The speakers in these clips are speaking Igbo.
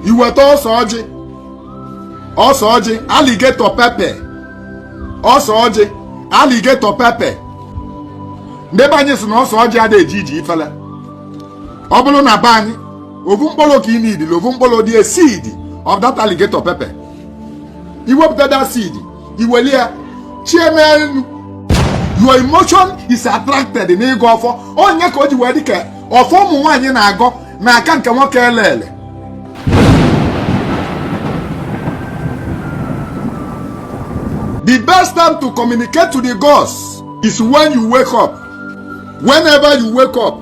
iweta ose ọjị ose ọjị alligator pepper ose ọjị alligator pepper ndị be anyị sị na ose ọjị ada eji iji ifele ọ bụrụ na be anyị ovu mkpụrụ ka ị needili ovu mkpụrụ dị a seed of that alligator pepper iwepụta that seed iweli ya chie n'enu your emotion is attracted n'ịgọ ọfọ ọ nya ka o ji wee dị ka ọfọ ụmụ nwaanyị na-agọ na-aka nke nwoke elele the best time to communicate to the gods is when you wake up whenever you wake up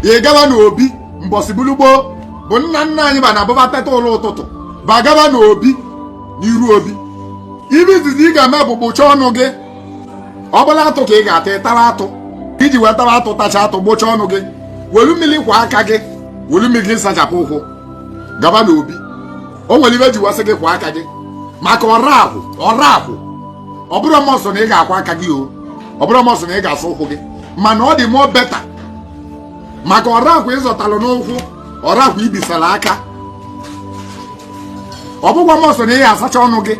ị gaba n'obi mbọsị bụlụ gboo bụ nna nna anyị ba na-abụ ba teta ụla ụtụtụ ba gaba n'obi n'iru obi ibe izizi ị ga-eme bụ gbụchaa ọnụ gị ọ bụlụ atụ ka ị ga-ata ịtara atụ iji wee tara atụ tacha atụ gbụchaa ọnụ gị welu mmiri kwọọ aka gị welu mmiri gị sachapụ ụkwụ gaba n'obi o nwere ibe e ji wee sị gị kwọọ aka gị maka ọra ahụ ọra ahụ ọ bụrọ must na ị ga-akwọ aka gị o ọ bụrọ must na ị ga-asa ụkwụ gị mana ọ dị more better maka ọra ahụ ị zọtalụ n'ụkwụ ọra ahụ i bisara aka ọ bụrọkwa must na ị ga-asacha ọnụ gị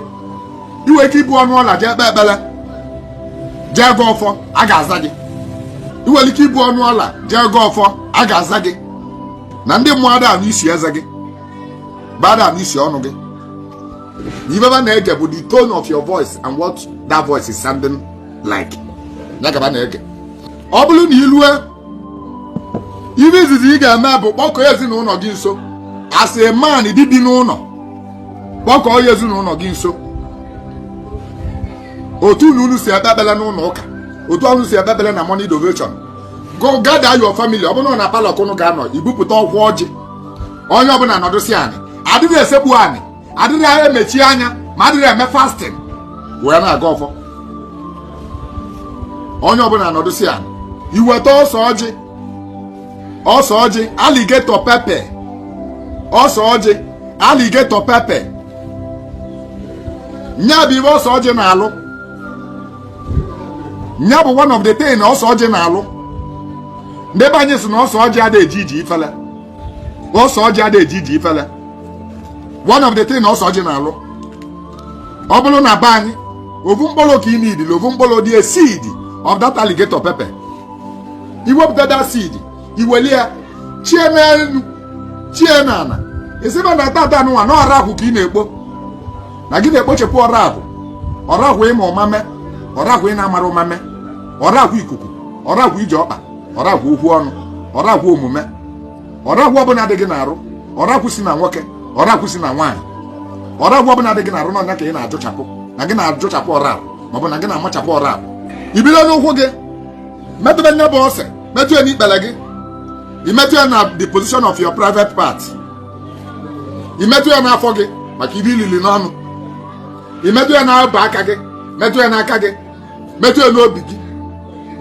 i nwee ike ibu ọnụ ụla jee kpee ekpere jee gọọ ọfọ a ga-aza gị i nwere ike ibu ọnụ ụla jee gọọ ọfọ a ga-aza gị na ndị mmụọ ada anụ isi eze gị ba ada anụ isi ọnụ gị na ibe ba na-ege bụ the tone of your voice and what that voice is sounding like nya ka ba na-ege ọ bụrụ na i lue ibe izizi ị ga-eme bụ kpọkọọ ezinụnọ gị nso as a man di bi n'ụnọ kpọkọọ ya ezinụnọ gị nso otu unu si ekpe ekpele n'ụnọ ụka otu unu si ekpe ekpele na morning devotion go gather your family ọ bụrụ na parlour ka unu ga-anọ ibupụta ọkwa ọjị onye ọbụla nọdụsịa anị adịrọ esekpu anị adịrọ emechi anya ma adịrọ eme fasting wee na-agọ ọfọ onye ọbụla nọdụsịa anị iweta ose ọjị ose ọjị alligator pepper ose ọjị alligator pepper nya bụ ibe ose ọjị na-alụ nya bụ one of the thing ose ọjị na-alụ ndị be anyị sị na ose ọjị ada eji iji ifele ose ọjị ada eji iji ifele one of the thing ose ọjị na-alụ ọ bụrụ na be anyị ovu mkpụrụ ka ị needili ovu mkpụrụ dị a seed of that alligator pepper iwepụta that seed iweli ya chie n'enu chie n'ana ị sị ba na tata nụnwa na ọra ahụ ka ị na-ekpo na gị na-ekpochapụ ọra ahụ ọra ahụ ị ma ụma mee ọra ahụ ị na-amarọ ụma mee ọra ahụ ikuku ọra ahụ ije ọkpa ọra ahụ okwu ọnụ ọra ahụ omume ọrakwụ ọbụla dị gị n'arụ ọrakwụ si na nwoke ọrakwụ si na nwaanyị ọrakwụ ọbụla dị gị n'arụ na ọ nya ka ị na-ajụchapụ na gị na-ajụchapụ ọrakwụ maọbụ na gị na-amachapụ ọrakwụ i bido n'ụkwụ gị metụbe nya bụ ose metụ ya n'ikpere gị ị metụ ya na the position of your private part ị metụ ya n'afọ gị maka ife i lili n'ọnụ ị metụ ya n'abụ aka gị metụ ya n'aka gị metụ ya n'obi gị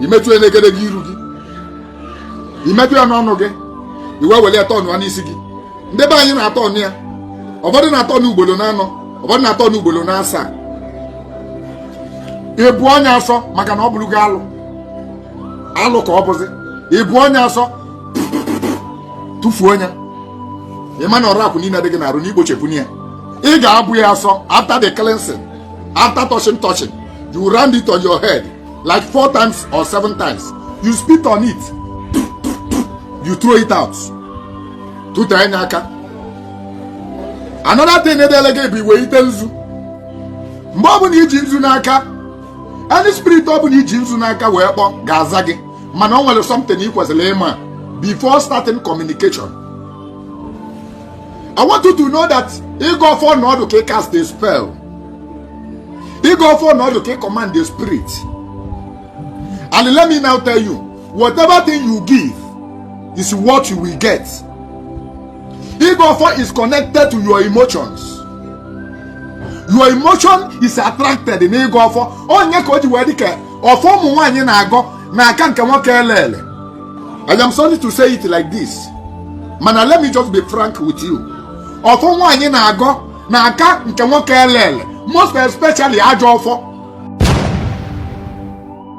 ị metụ ya n'egedege iru gị ị metụ ya n'ọnụ gị i wee were ya tọnụ ya n'isi gị ndị be anyị na-atọnụ ya ụfọdụ na-atọnụ ugboro na anọ ụfọdụ na-atọnụ ugboro na asaa ị bụọ nya asọ maka na ọ bụrụgo alụ alụ ka ọ bụzi ị bụọ nya asọ tụfuo nya ị ma na ọrakwụ niile dị gị n'arụ na i gbochapụ ya ị ga-abụ ya asọ after the cleansing after touching touching you round it on your head like four times or seven times you spit on it you throw it out tụtee nya aka another thing edele gị bụ iwete nzu mgbe ọbụna i ji nzu n'aka any spirit ọbụna i ji nzu n'aka wee kpọ ga-aza gị mana ọ nwere something ị kwesịrị ịma before starting communication I want you to know that ịgọ ọfọ na ọ dị ka ị cast a spell ịgọ ọfọ na ọ dị ka ị command the spirit and let me now tell you whatever thing you give is what you will get ịgọ ọfọ is connected to your emotions your emotion is attracted na ịgọ ọfọ ọ nya ka o ji wee dị ka ọfọ ụmụ nwaanyị na-agọ na-aka nke nwoke ele ele I am sorry to say it like this mana let me just be frank with you ọfọ nwaanyị na-agọ na-aka nke nwoke ele ele most especially ajọ ọfọ